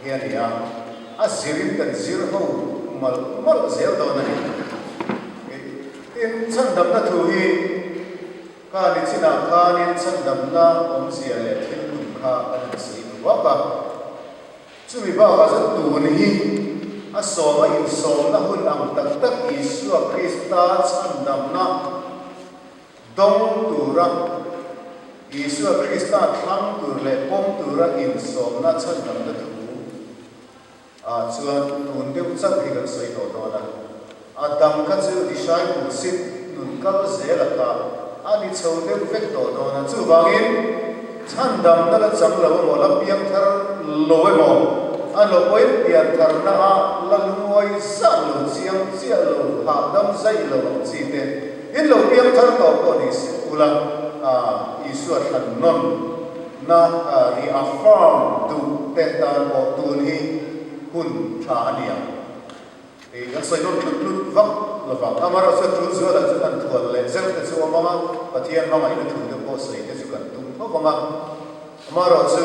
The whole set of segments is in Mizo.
Hi a ni a, a zirin kan zir ho malh malh zel dawn a ni. Ih, tin chhandamna thu hi ka ni chinah khanin chhandamna awmzia leh thil hmun kha ka han sawi ve vak a. Chumi bakah chuan tun hi a sawma insawmna hun ang tak tak Isua Krista chhandamna, Dawng tura Isua Krista thlang tur leh pawm tura insawmna chhawinamna thu ah chuan tun deuh chauh hi kan sawi tawh dawn a. A dang kha chu disciple sit nun kal zel a kha a ni chho deuh vek tawh dawn a. Chuvangin chhandamna la chang lo emaw, la piang thar lo emaw, a lo awim pian thar na a, la lungawi zan lo, chiang chiah lo, hahdam zaih lo ang chi te, In lo piang thar tawh pawh ni si ula Isua thlan nawn na reaffirm duh pek tan pawh tun hi hun tha a nia. Hei kan sawi nawn tlut tlut vak lovang. Amaherawhchu a tul zual ah chuan an thual leh zeuh te chu awm ang a, Pathian hmangaihna thu te pawh sawi te chu kan tum tho vang a. Amaherawhchu.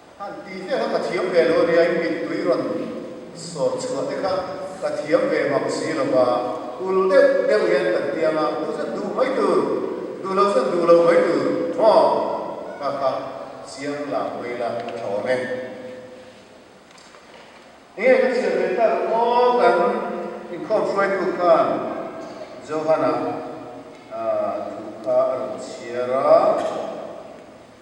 Khan ti hle kha ka thiam ve lo ania in min tui rawn sawr chhuah te kha ka thiam ve mak si lo va, ul deuh deuh hian kan tiang a, duh zawk duh mai tur, duh lo zawk duh lo mai tur maw? Ka kha chiang la mai la ka tlawm e. Enge ka chhiar ve ta rawh maw? Kan inkhawm hruaitu khan Johan-a thu kha a rawn chhiar a.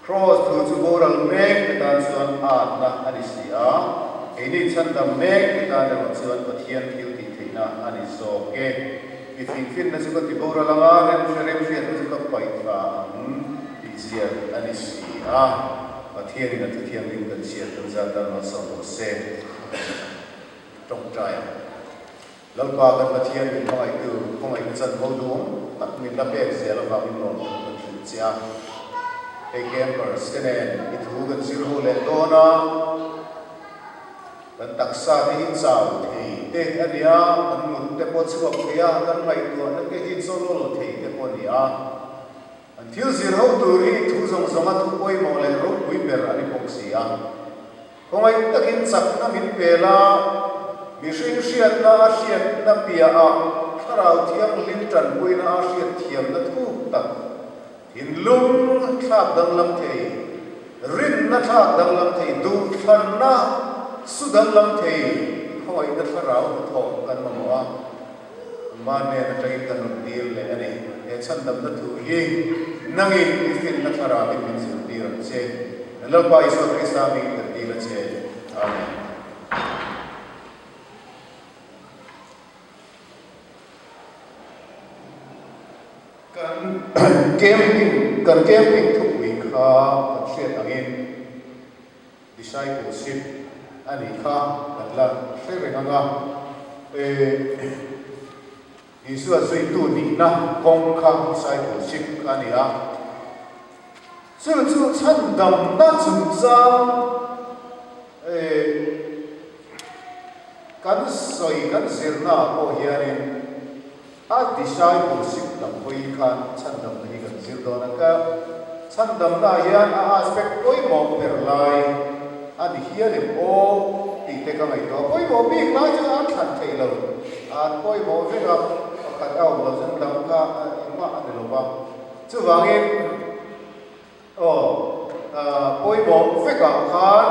Kraws thu chu boral mek te tan chuan atna a ni si a, keini chhandam mek te tan erawh chuan Pathian thil tih theihna a ni zawk e. I fingfinna chu ka ti boral ang a, remhre remhriat te chu ka paih thla ang tih ziah a ni si a, Pathian in a thu thianghlim kan chhiar tel zat dan lo chauh lo se. Tawngtai. Lalpa kan Pathian min hmangaihtu khawngaih ka chan bo dûng tak min la pêk zia lovah min lâwm tawh ka thlîr che a. Hei campers te nen i thu kan zir ho leh dâwn a, kan taksa te hi chau thei te a nia, kan ngut te pawh chhuak thei a, kan ngaihtuahna te hi chaw lâwl thei te pawh a ni a. An thil zirho tur hi thu zawng zawnga thu pawimawh leh ropui ber a ni bawk si a, khawngaih takin chakna min pe la, mihring hriatna a hriatna piah ah Thlarau Thianghlim tanpuina a hriatthiamna thuk tak, thinlung thlak danglam thei, rinna thlak danglam thei, duhthlarna su danglam thei khawngaihna thlarau hnathawh kan mamawh a. Engmah nen a ṭain ka nun tir leh a ni? He chhandamna thu hi nangin i finna thlarâkin min zirtir ang che. Min Lalpa Isua Krista mingin kan dîl a che. Amen. Kan camping, kan camping thupui kha kan hriat angin. Discipleship a nih kha kan la hre reng ang a, e Isua zuitu nihna kawng kha discipleship a ni a, chu chu chhandamna chungchang e kan sawi kan zirnaah pawh hianin, A discipleship dam hawi hi khan chhan damna hi kan zir dawn ang ka. Chhan damnaah hian a aspect pawimawh per lai a ni hial em aw tih te ka ngaihtuah a. Pawimawh bik lai chu an thlan theih lo, an pawimawh vek a, pakhat a awm lo chuan dam kha engmah a ni lo va. Chuvangin. Aw, pawimawh vekah khan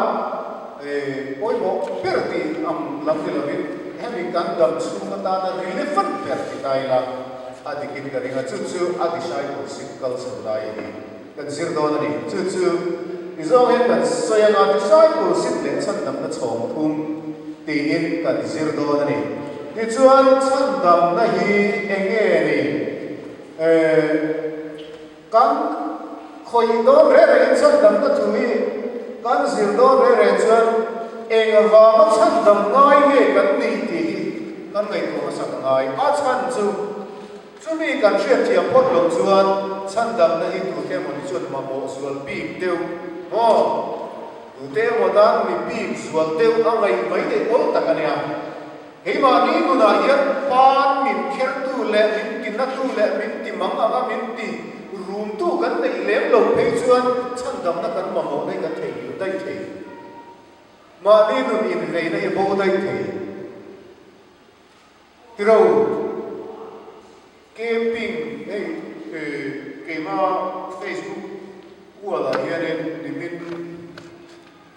pawimawh ber tih ang lam ni lovin hemi kan dam chhung atana rilli fan ber ti ta ila a dikin ka ring a, chu chu a discipleship kal chho lai hi kan zir dawn a ni, chu chu ti zawng in kan sawi anga discipleship leh chhandamna chhawmthum tiin kan zir dawn a ni. Tichuan chhandamna hi enge ni? Ehh. Kan khawih dawn reh rehin chhandamna thu hi kan zir dawn reh reh chuan eng avanga chhandam ngai nge kan ni tih hi kan ngaihtuah hmasa ka ngai a chhan chu. Chumi kan hriatchiah phawt lo chuan chhandamna hi tute emawni chuan mamawh zual bik deuh maw? Tute emaw tan mi bik zual deuh a ngaih mai neih awl tak a nia. Keimahni nunah hian fan min khertu leh min ti natu leh min ti mang anga min ti rumtu kan neih lem lo phei chuan chhandamna kan mamawh daih kan thei hlim daih thei. Mahni nun inveina hi a bo daih thei. Tiro Kemping hei keima Facebook kualah hianin nimin.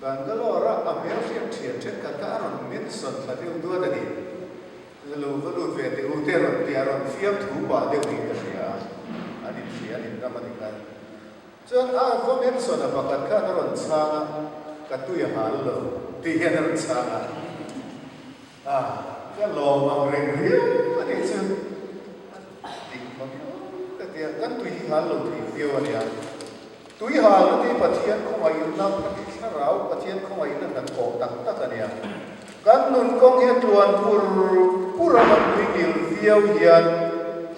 Bangalore-a a hmel hriat thian then ka kha a rawn men sawn thla deuh duat a ni. La lo va lut ve teh u te rawn ti a rawn fiam thu pah deuh niin ka hria a, an inhria an inram a ni khan. Chuan a va men sawn a pakhat khan a rawn chhang a, ka tui a hal lo tih hian a rawn chhang a. A ka lawm ang reng riau a nih chu. Dik hma miau ka ti a, kan tuihal lo thei viau a nia. Tuihal na ti Pathian khawngaih in na phak hi thlarau Pathian khawngaih na hna thawh tak tak a nia. Kan nun kawng hi a tluan pur pur a kan nui ngil viau hian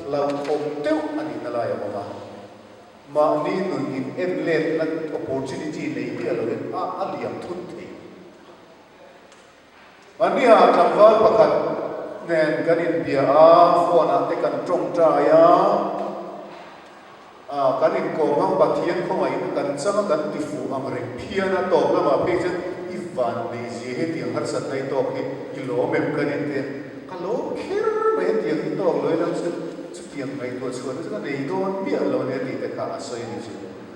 hlauhawm deuh a nih na lai a awm a. Mahni nun in en let na opportunity nei diah lo in a a liam thut thei. Anniha tlangval pakhat nen kan inbia a, phone ah te kan tawngtai a, ah kan inkawm hang Pathian khawngaih na kan chang a kan ti fuh ang reng phian a, tawp lamah phei chuan i van nei zia hetiang harsat lai tawk hi i lawm em ka ni tia, ka lawm kher mai hetiang i tawk loin ang chuan chutiang ngaihtuah chhuah te chu ka nei dawn miah lo nia tih te kha a sawi ni chu.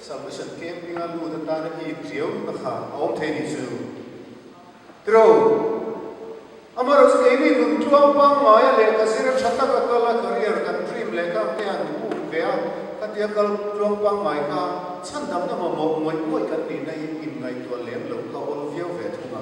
Submission camping a lut atan a hik riau na kha a awm thei nih chu ero amarawh chu keini nun tluang pangngai a leh ka zir a tha tak a kal a career kan dream leh ka ang te hian thu um ve a ka tia kal tluang pangngai kha chhandamna mamawh ngawih ngawih kan nihna hi in ngaihtuah lem lo kha awl viau ve thung a.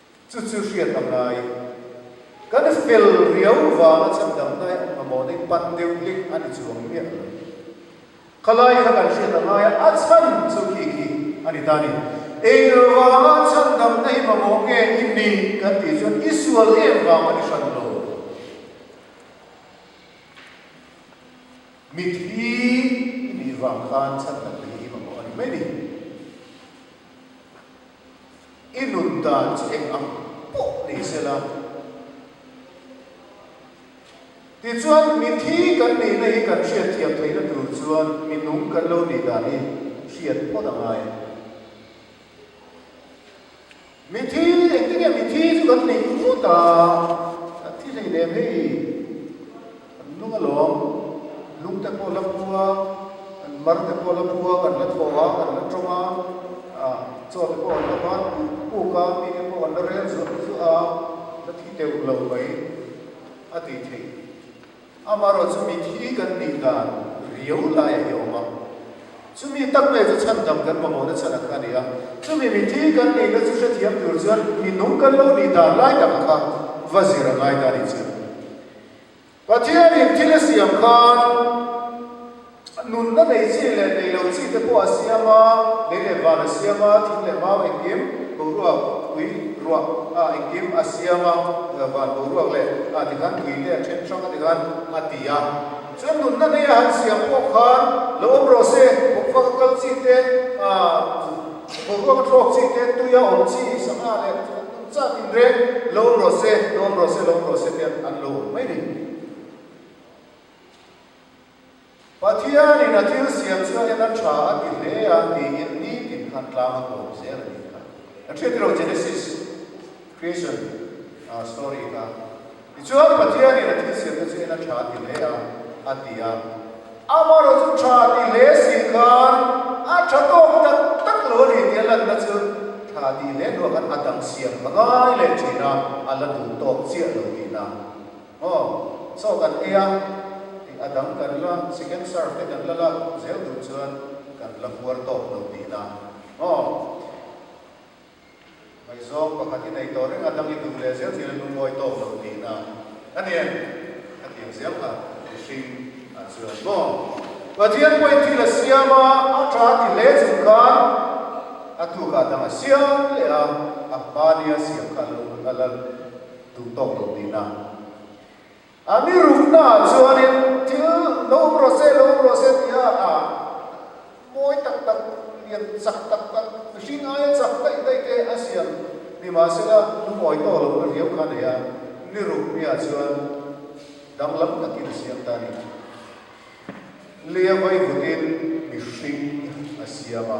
Chu chu hriat a ngai. Kan fel riau vanga chhan dang hnai ang mamawh dei pan deuh hlim a ni chuang miah lo. Khalai kha kan hriat a ngai a, a chhan chu khi khi a ni ta ni. Engvanga chhan dang hnai mamawh nge i ni kan tih chuan i sual em vang ka ti hran lo. Mit hi i nih vang khan chhan dang hnai hi mamawh a ni mai ni. I nut dan chi eng ang pawh ni se la. Tichuan, mithi kan nihna hi kan hriat thiam theihna tur chuan minung kan lo nih dan hi hriat phawt a ngai. Mithi, engtin nge mithi chu kan nih ngawt a, kan thi hleinem hei. Kan nung alawm, lungte pawh la pu a, kan marte pawh la pu a, kan la thaw a, kan la tawng a, chaw te pawh kan la bat puk puk a, mi te pawh kan la rel zuah zuah a, la thi deuh lo mai a ti thei. Amaherawh chu mithi kan nih dan riau laiah hi a awm a, chumi tak mai chu chhan dang kan mamawh na chhan ang kha a ni a. Chumi mithi kan nih na chu hrethiam tur chuan minung kan lo nih dan lai takah kha va zir a ngai ta a ni che. Pathianin thil a siam khan a nunna nei chi leh nei lo chi te pawh a siam a, lei leh van a siam a, thing leh mau engkim, boruak, ui, ruak, a engkim a siam a, van boruak leh a ti khan ui te a then hrang a ti khan a ti a. Chuan nunna nei a han siam pawh khan lo awm rawh se, bawkfak a kal chi te, boruak a thlawk chi te, tui a awm chi sangha leh. Chah tin reng lawm rawh se, lawm rawh se, lawm rawh se te an lo awm mai ringawt a. Pathianin a thil siam chuan hian a tha a ti hle a tiin nitin khan tlang a kawm zel a ni kha. Kan hriat ilo Genesis creation story kha. Tichuan, Pathianin a thilsiamna chu en a tha ti hle a, a ti a. Amaherawhchu chu tha ti hle si khan a tha tawk tak tak lo a ni tia lanna chu tha ti hle hnu ah khan a dang siam hla ngai leh thin a, a la duh tawk chiah lo tihna maw? Chaw kan ei a, hei a dang kan la second serve te kan la la zel duh chuan kan la fuar tawk lo tihna maw? Vaizawng pakhat i nei tawh reng a dang i duh leh zel tirah nu ngawi tawk lo tihna a ni em? a ti ang ziah kha ri hring a chuan bawk. Pathian pawhin thil a siam a, a tha a ti hle chung khan a tu kha a dang a siam leh a, a hma nia siam kha a lo a la duh tawk lo tihna A mi rukna ah chuanin thil lo awm rawh se, lo awm rawh se tia a mawi tak tak, lian chak tak tak, mihring aia chak daih daih te a siam. Ni mah se la, lungawi tawh loh na riau kha nei a, ni ruk mi ah chuan danglam takin a siam ta a ni. Lia vai vut in mihring a siam a.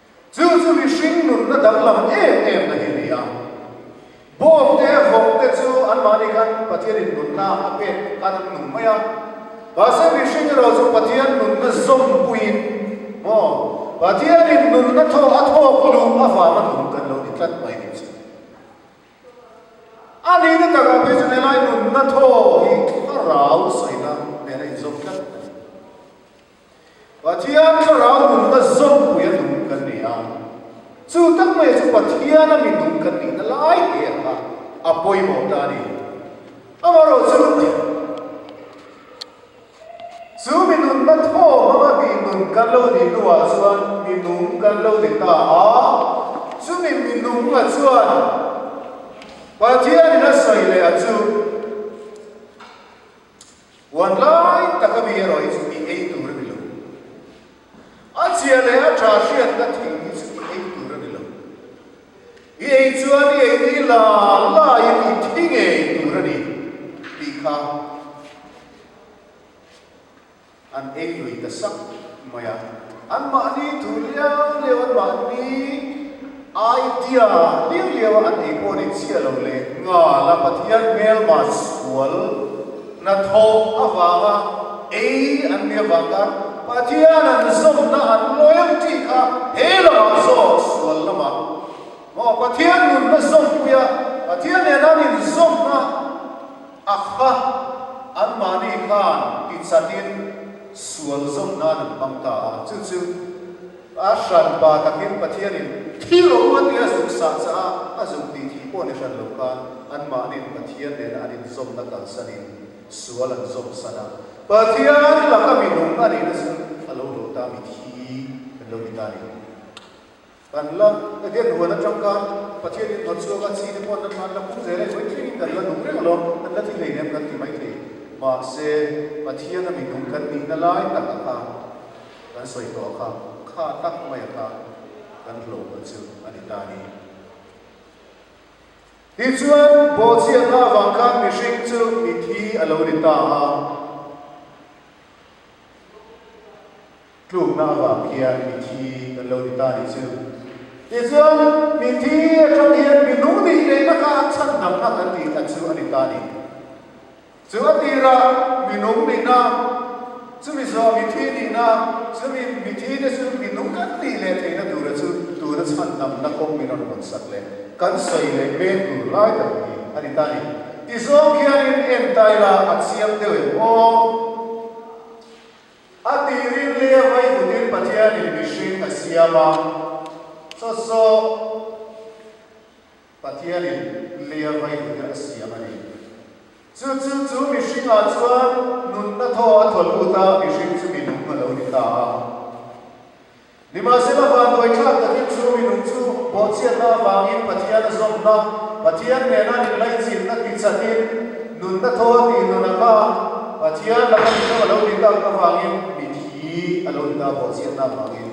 Chu chu mihring nunna danglam em em na hi a ni a. Bawm te, vawng te chu anmahni khan Pathianin nunna a pek khan an nung mai a. Mahse mihring erawh chu Pathian nunna zawmpuiin maw, Pathianin nunna thaw a thawk luh avanga nun kan lo ni tlat mai nih chu. A nihna takah phei chuan helai nunna thaw hi thlarau sawi na nena inzawm tlat mai. Pathian Thlarau nunna zawmpui a dum kan ni a, chu tak mai chu Pathiana minung kan nihna lai te ang a, a pawimawh ta a ni. Amaherawh chu, chu minunna thaw hmanga mihnun kan lo nih hnuah chuan minung kan lo ni ta a, chumi minunga chuan Pathianin a sawi leh a chu. Puan lai tak ami erawh i chu i ei tur a ni lo. A chia leh a ṭha hriatna thing i chu i ei tur a ni lo. I ei chuan i ei hi la laiin i thi ngei tur a ni tih kha an ei lui ta sak. mai a, an mahni thu liau liau an mahni idea liau liau a an ei pawh a ni chiah lo le. Nghal a Pathian hmel mah sual hnathawh avang a ei an nia vang khan Pathian an zawmna an loyalty kha he lamah zawk sual lamah maw Pathian nunna zawmpuia Pathian nena min zawmna Akha! Anmahni khan tichhat in sual zawm nan an hmang ta a, chu chu a hran pa takin Pathian in thil rawh u a tia zuk sah caah a zuk ti thih pawh ni hran lo khan anmahnin Pathian nena an in zawmna kalsan in sual an zawm san a. Pathian laka minung a nihna chu a lo hlawh ta mitthi an lo ni ta ni. Dan la, Etian huan a tangkang Pathian in hnawt suak a chhi te pawh nan hmanna pung zela in puitling in kan la nung reng lo, kan la ti hleinem kan ti mai thei. Mahse, Pathian a minung kan nihna lai tak a kha kan sawi tawh a kha, kha tak mai a kha kan hlawhpawlh chu a ni ta ni. Tih chuan bawhchiatna avang khan mihring chu mithi a lo ni ta a. Tlukna avang khian mithi kan lo ti ta ni chu. Tichuan, mithi atang hian minung nih lehna kha an chhan dangha kan tih kha chu a ni ta ni. Chu a tirah minung nihna, chumi zawh mithi nihna, chumi mithi te chu minung kan nih leh theihna tura chu tuna chhan dangna kawng min rawn hawn sak leh kan sawi leh men tur lai tak hi a ni ta ni. Ti zawng khianin en taila a chiang deuh em aw? A tih rim leh a vawi dut in Pathian in mihring a siam a, saw saw Pathian in leh a vawi dut in a siam a ni. Chu chu chu mihring ah chuan nunna thaw a thaw lut a mihring chu minung a lo ni ta a. Nimahsela vanduai thlak takin chu minung chu bawhchhiatna avangin Pathian a zawmna, Pathian nena inlaichinna tichahin nunna thaw a tih nunah kha Pathian laka mizo a lo ti tak avangin mithi a lo ni ta bawhchhiatna avangin.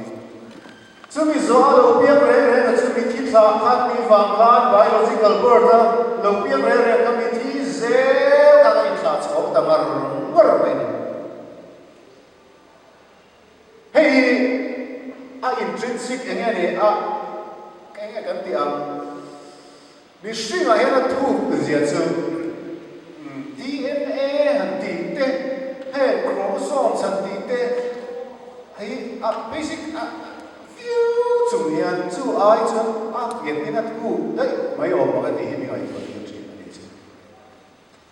Chumi zawh a lo piang reng rengah chu mithi thlah khan tih vang khan biological birth a lo piang reng reng kha mithi zel khan a inthlah chhawm ta ngar ngar mai a ni. Hei hi a intrinsic enge ni a enge kan tih ang? Mihring ah hian a thuk zia chu DNA han tih te he chromosome han tih te hi a basic a viau chung hian chu ai chuan a ngen in a thuk daih mai awm ang e tih hi mi ngaihtuah hi a thin a ni che.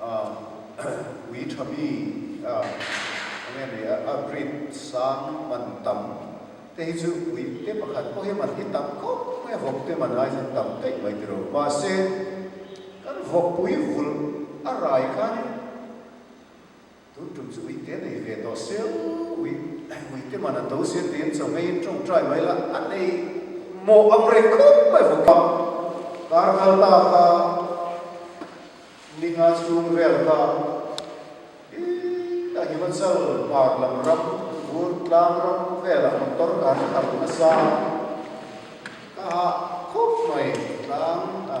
A ui tha mi a nge ni a a rit sang man tam te hi chu ui te pakhat pawh hi man hi tam khawp khawp e vawk te man aizawng tam teih mai tilo mahse kan vawkpui vulh a rai khanin Tun tum chu uite nei ve tawh seuh ui, uite man an do sia tiin chaw ngeiin tawng try mai la, a nei maw ang reng khawp mai vawk a. Kar kal ta kha ni nga chhung vel kha hi a Himachal par lam ram bur tlang ram vel ah motor kar ka kal nasa a, ka hah khawp mai tlang a.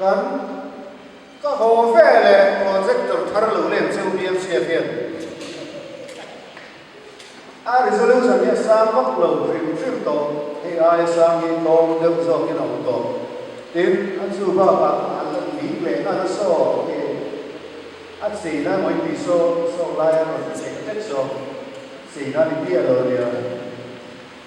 Kan ka haw ve le projector thar lo len cheu hi an chhiat hian a resolution hi a sang vak lo hrim hrim tawh hei aia sang hi tawng deuh zawk in a awm tawh tin a chu bakah an la dik leh nghal a saw tiin a chin a ngawi pi saw saw lai a rawn ti chek tek zawk chin a ni pi a lo nia.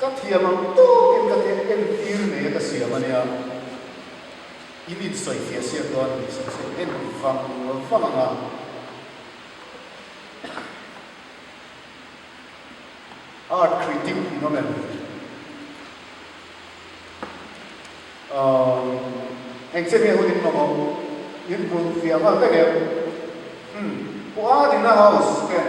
Ka thiam ang tawk in ka teh en tir mai a ka siam a nia. I min sawi thih a siam dawn a nih sek sek en ti vang nual vang ang a. Art critic in awm em? Umm eng che nge hun in mamawh in hmuh fiah nghal vek em? Umm pawh a nina house ken.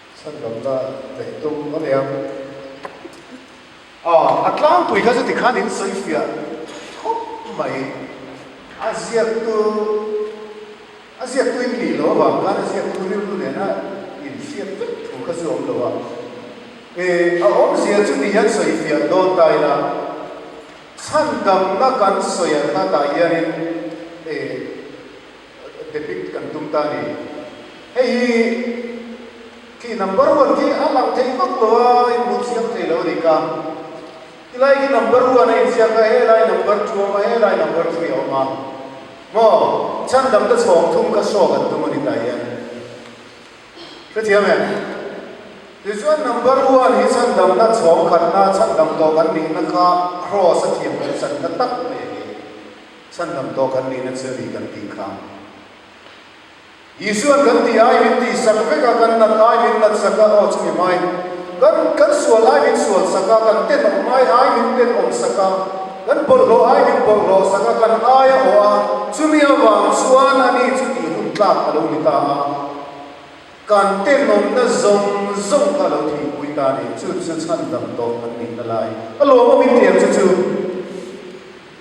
Sanlamna daih tum a nia. Aw, a tlangpui kha chuti khan in sawi fiah khawp mai. A ziaktu, a ziaktu in nih loh avang khan a ziaktu rilru nena in fiah vek thu kha chu awm lo a. E, a awmzia chuti hian sawi fiah dawn ta ila. Chhandamna kan sawi a hla ta hian in e. Depict kan tum ta a ni. Hei hi khi number one khi a lang thei vak lo a, a inbun siam thei lo a ni ka. Ti lai khi number one a inziak a, he lai number two a awm a, he lai number three a awm a. Maw? Chhan dang te chhawng thum kha saw kan tum a ni ta hian. Hrethiam em? Tichuan number one hi chhan damna chhawng khatna, chhan dam tawh kan nihna kha cross a thiam kan chatna tak mai a ni. Chhan lam tawh kan nihna chu ni kan tih kha. Jesuan kan tih ai min tih sak vek a, kan nat ai min nat sak a, aw chumi mai. Kan kan sual ai min sual sak a, kan tenawm ai ai min tenawm sak a, kan bawlhhlawh ai min bawlhhlawh sak a, kan ai a awh a, chumi avang chuan a ni chu tih hun tlak a lo ni ta a. Kan tenawmna zawng zawng kha a lo thihpui ta a ni, chu chu chhan lam tawh kan nihna lai a lawm a min ti ang chu chu.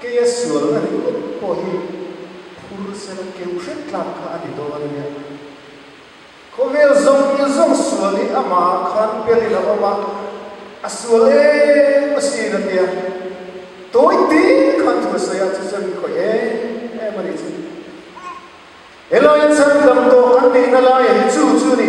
Kei a sual na nih lutuk pawh hi phur sela keu hret tlak kha a ni dawn a nia. Khawvel zawng in zawng sual hi a mah khan pel in a awm a, a sual em a sin a tia tawi tir khan thu a sawi a, chu chuan min khawih em em a ni chu. He laia chhan dam tawh kan neihna lai hi chu chu a ni.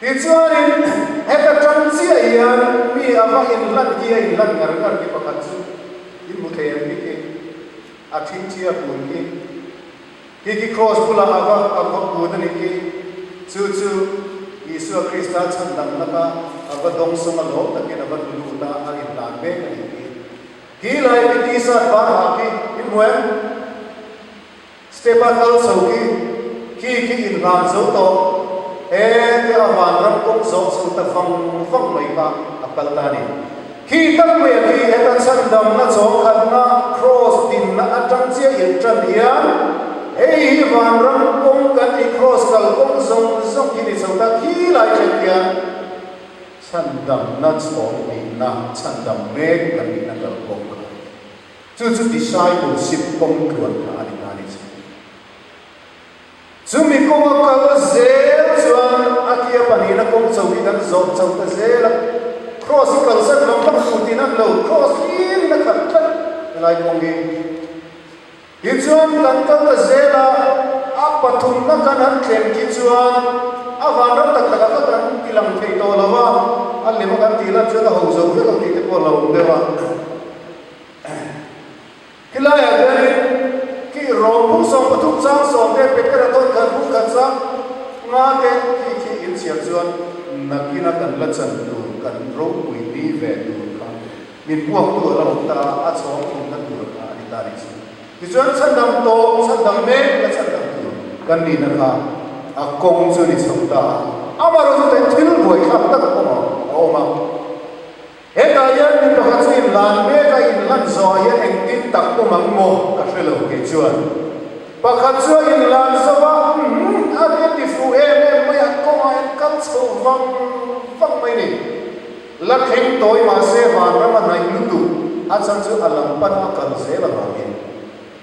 Tichuanin, heta ṭang chiah hian mi a va inhlan hi a inhlan ngar ngar hi pakhat chu i hmu thei ang bik e. A ṭhingṭhia pun hi khi khi kraws bulah a va a va pun a ni khi, chu chu Isua Krista chhan dang laka a va dawng sawng a lawm takin a va tlu lut a a indan mek a ni khi, khi lai khi tisa tvar hah khi i hmu em? Step a kal chho khi, khi khi in nghal zo tawh e tia a van ram kawng zawh chho ta vang vang mai kha a kal ta a ni. Khi tak mai a khi heta chhandamna chawngkhatna Kraws dinna atang chiah irh tan hian, hei hi van ram kawng kan i Kraws kal kawng zawng zawng khi ni chho ta khi lai ṭhian hian chhandamna chawng dinna chhandam mek kan nih na kal kawng kha a ni. Chu chu discipleship kawng tluan phah a ni hna ni chu. Chu mi kawng a kal zel chuan a tia pahnihna kawng cho hi kan zawh chho ta zel a, Kraws hi kal zat lo hmak thu tin an lo kraws hlir in a khat tlat helai kawng hi. Tin chuan kan kal ta zel a, a pathumna kan han thleng khi chuan a vanram tak takah kha kan bilang thei tawh lo a, a lem a kan tih lan chuan a ho zo vek lo tih te pawh a lo awm deuh a. Hi laiah hianin kih rawng bung zawng pathum chang zawng te packet a dawn khat bung khat chang nga te khi khi in chhiat chuan nakina kan la chan tur kan ropui ni ve tur kha min buaktu a la awm ta a, a chhawng inna tur kha a ni ta ni chu. Tichuan chhan dang tawh chhan dang mek la chhan dang tur kan nihna kha a kawng chu a ni chho ta a, amaherawhchu thil buai thlak tak awmah a awm a. Hetah hian mi pakhat chu inlan mek a, inlan zawhah hian engtin tak awm ang maw ka hre lo tih chuan pakhat chu a inlan zauh a, Umm a ri ti fuh em em mai a kawngah hian kal chho vang vang mai ni. La thleng tawi mahse vanram a naih lutuk a chhan chu a lam pan a kal zel avangin.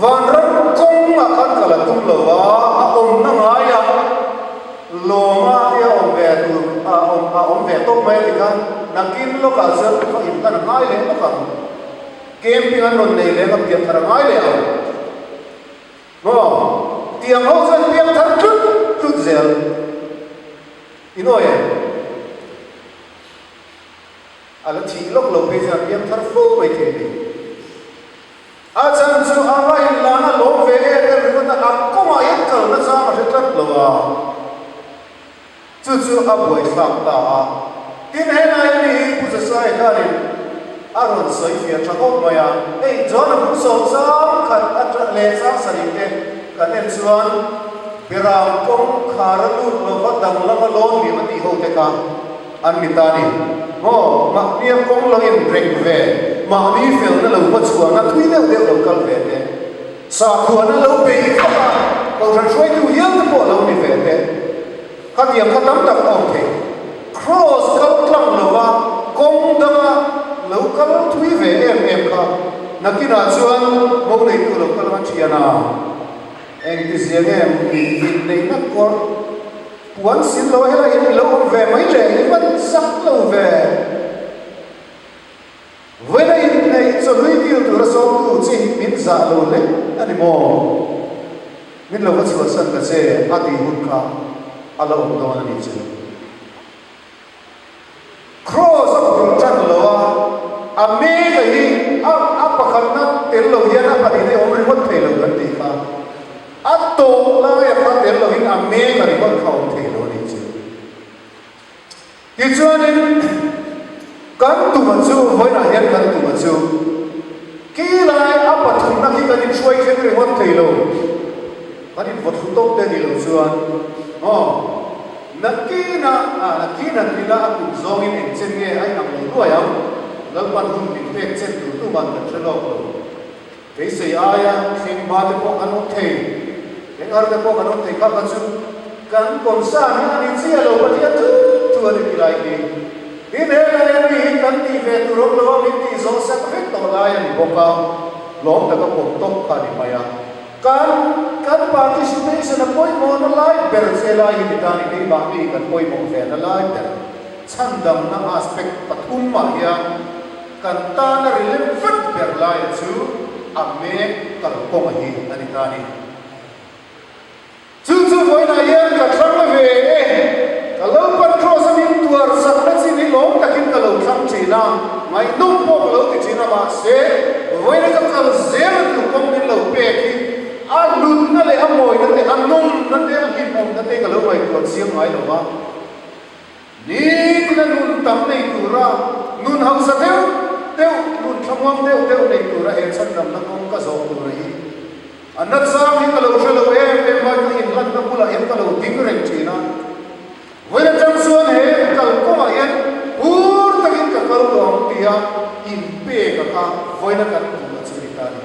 Vanram kawng ah khan ka la tum lo a, a awmna ngai ah lawm a hi a awm ve tur ah awm a awm ve tawp mai ti khan nakin lawk ah chuan ka thaw in ka na ngai leh bawk ang. Camping an rawn nei leng a piak thar a ngai leh ang maw tiang ho chuan piak thar tlut tlut zel in awi ang a la thih lawk lo phei chuan piang thar fo mai thei mai. A chang chu ama in lana a lawm ve e ber ringawt a ang kawngah hian kalna chang a hre tlat lo a, chu chu a buaithlak ta a. Tin, he laia mi hi Pu Zasai hianin a rawn sawi fia tha hawk mai a, hei chuan a hung sawm zam khat a tla leh chang sarih te kan en chuan Berau kawngkhara lut lova dang lama lawn miah a ti ho te kha. An mit a ni. Maw? Mahniah kawng loin reng ve, mahni felna lo hmachhuahna thui deuh deuh lo kal ve te, sahkhuahna lo peih vak a kohhran hruaitu hial te pawh lo ni ve te, khatiang kha tam tak awm thei. Kraws kal tlang lova kawng danga lo kal thui ve em em kha nakinah chuan mo leitu lo kal a thian a, engtiziange mithi neihna kuar? Puan sin lo helai in i lo awm ve mai le i hman zak lo ve. Vawiina inneih chawhlui dil tur a zawm tu chi min zah lo leh a ni maw? Min lo va chhuahsan ta che a tih hun kha a la awm dawn a nih che. Kraws a phun tan lo a, a mega hi a a pakhatna tel lo hian a pahnih hi a awm ringawt thei lo kan ti kha, a tawh laia kha tel loin a mega ringawt kha awm thei lo ni chu. Tichuanin kan tumah chu vawilah hian kan tumah chu khi lai a pathumna khi kan inhruai thleng ringawt thei lo. Ka rin vawt hlu tawp te nilo chuan Haw, na kina ah na kina an ila a kum zawngin eng chen nge a inang lo duai ang? Lalpan hun min pek chet tur tu man kan hre lawk lo. Beisei aia thleng ba te pawh kan awm thei, eng ar te pawh kan awm thei kha ka chu kan kawn sa na a ni chiah lo pahnih a thut thu a ni ti lai hi hi nen a nen mi hi kan tih ve tur awm lo a min tih zawng sak vek tawh lai a ni bawk a, lawm taka pawm tawp kha a ni hmai a. Kan kan participation a pawimawhna lai ber che lai hi tikah engtin bahmi kan pawimawh velna lai ber chhandamna aspect pathum mah hian kan tana ri lem vek ber laia chu a mek kalkawng a hi a ni ta ni. Chu chu vawilah hian ka thlang a ve e, ka lo pan cross a min tuar sak na chin hi lawm takin ka lo thlang thin a, ngaihnawm pawh ka lo ti thin a mahse vawiina ka kal zel a tur kawng min lo pek hi a lutna leh a mawina te a nungna te a hlimawmna te ka lo ngaihtuah chiang ngai lo a. Ni la nun tam nei tura nun hausa deuh deuh, nun thlamuang deuh deuh nei tura he chhan damna kawng ka zawh tur a hi a nachang hi ka lo hre lo em em a, ka inhlatna bulah hian ka lo ding reng thin a, vawi na chang chuan he kal kawngah hian hur takin ka kal lo ang tia inpek ang a, vawi na kan duh a chu ni ta ni.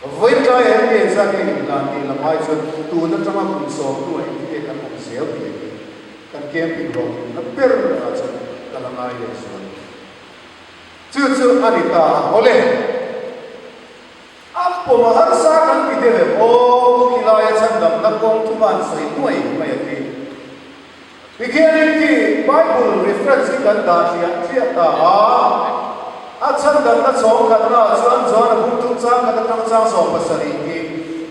Vawitlai he mi engzah nge in dan tih la hmai chuan tun atanga kum sawmtu a indicate a kum zel tih a ti. Kan camping rawh tih na ber lova chuan ka la ngai leh zual a ti. Chu chu a ni ta a haw le. A pawmah harsa kan ti tel em aw, khilai a chhandamna kawng thuman sawi nuai mai a ti. Tikhianin khi Bible reference hi kan dah hliah hliah ta a, a chhandarhna chhawng khatnaah chuan Joana bumtu chang khat atang chang sawm pasarih tih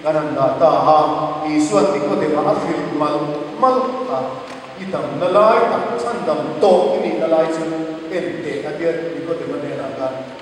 kan han dah ta a, Isua tiko deuhah a fir malh malh a, i damna lai tak chhandam tawh i nihna lai chu enteh a tia Nicodema nena khan.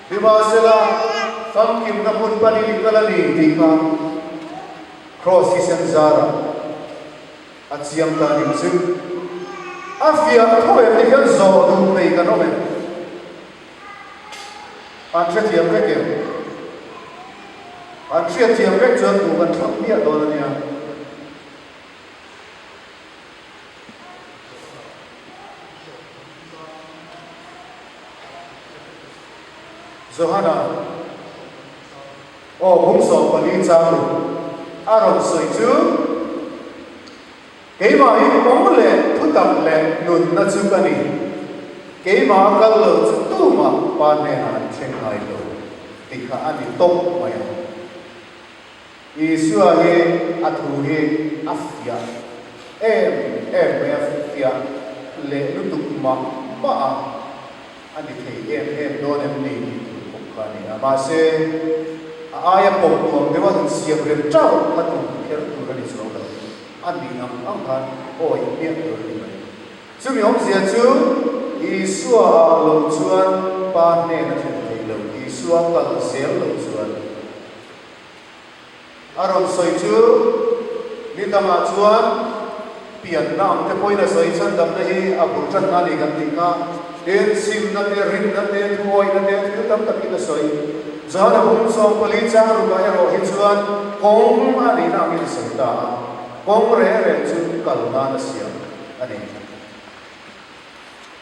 Nimahsela, famkimna hmun pani hi ka la ni tih kha Kraws hi Senzara a chiang ta ning chu a fiah a tho em te hian zawh duh mai kan awm em? An hrethiam vek em? An hriat thiam vek chuan duh kan thlak miah dawn a nia. Johanna, Aw hung zawh pali chang lo, a rawn sawi chu keimahin awm leh thu tak leh nunna chu ka ni, keimah a kal lo chu tumah pa hnenah an thleng ngai lo ti kha a ni tawp mai ang. Isua hi a thu hi a fiah em em mai a, fiah leh lutuk mah mah a, a ni thei em em dawn em ni tih thut bawk kha a ni a, mahse a aia pawp nuam deuha insiam reng tauh a tun kher tur a ni chu lo lang a, a nih ang ang khan aw inhmiah tur a ni mai. Chumi awmzia chu Isua ah lo chuan Pa hnena thlen theih loh, Isua kal zel loh chuan, A rawn sawi chu ni dangah chuan pianna ang te pawhin a sawi chhan damna hi a bul tanna a ni kan tih kha. Tin, simna te, rinna te, thuawihna te thil tam takin a sawi. Johana hmun zawng pali chang rukah erawh hi chuan kawng a nihna angin a sawi ta a, kawng reh reh chu kal nan a siam a ni.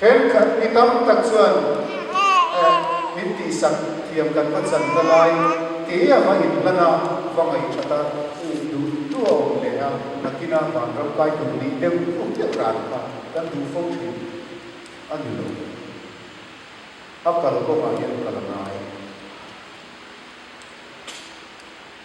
Thenkhat mi tam tak chuan Eh, min tihsak thiam kan va chan ta lai, ti a va inhlan a, va ngaihtha ta. Uk duh duh a awm leh a, nakina van ro kai duh ni deuh duh deuh ran kha kan duh fo thin a ni lo. A kal kawngah hian ka la ngai.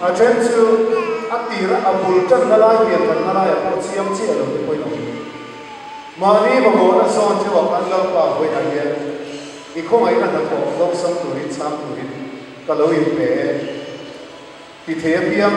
A then chu a tira a bul tanna lai hmian thatna laia pawh chiam chiah a lo ti pawhin a awm. Mahni mamawhna zawn deuha khan Lalpa vawiah hian i khawngaihna hnathawh lo sam turin chhang turin ka lo inpe e ti thei apiang.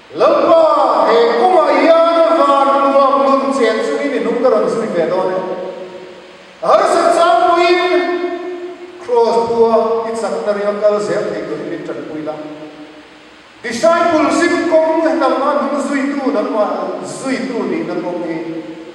Lalpa, he kawngah hian van nuam nun chen chungin i nung ka rawn zui ve dawn e. A harsat changpuiin Kraws pua i chakna ringa kal zel thei tur i min tanpui la. Disciple zing kawng hnam a hnung zuitu nangmah zuitu nihna kawng hi.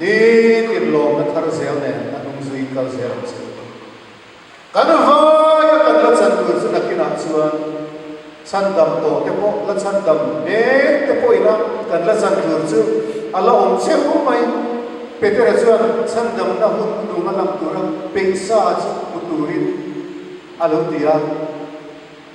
Hi tirhlawmna thar zel nen a hnung zui kal zel ang chu. Kan vai a kan la chan tur chu nakinah chuan chhan dam tawh te pawh la chhan dam hmel te pawh ina kan la chan tur chu a la awm cheu mai. Petera chuan chhan damna hun khutuma lam tura peihsa chu hmu turin a lo ti a.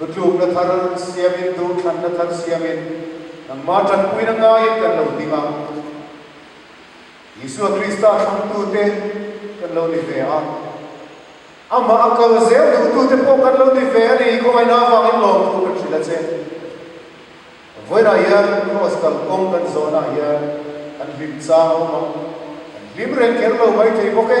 Lutlukna thar siamin, duhthlanna thar siamin nangmah tanpuina ngaiin kan lo ding a, Isua Krista thlawmtute kan lo ni ve a, Amah a kal zel duhtute pawh kan lo ni ve a ni, khawngaihna avangin lawm thu kan hrilh a che. Vawilah hian kraws kal kawng kan zawnah hian kan hlim chang awm a, kan hlim rengker lo mai thei bawk e.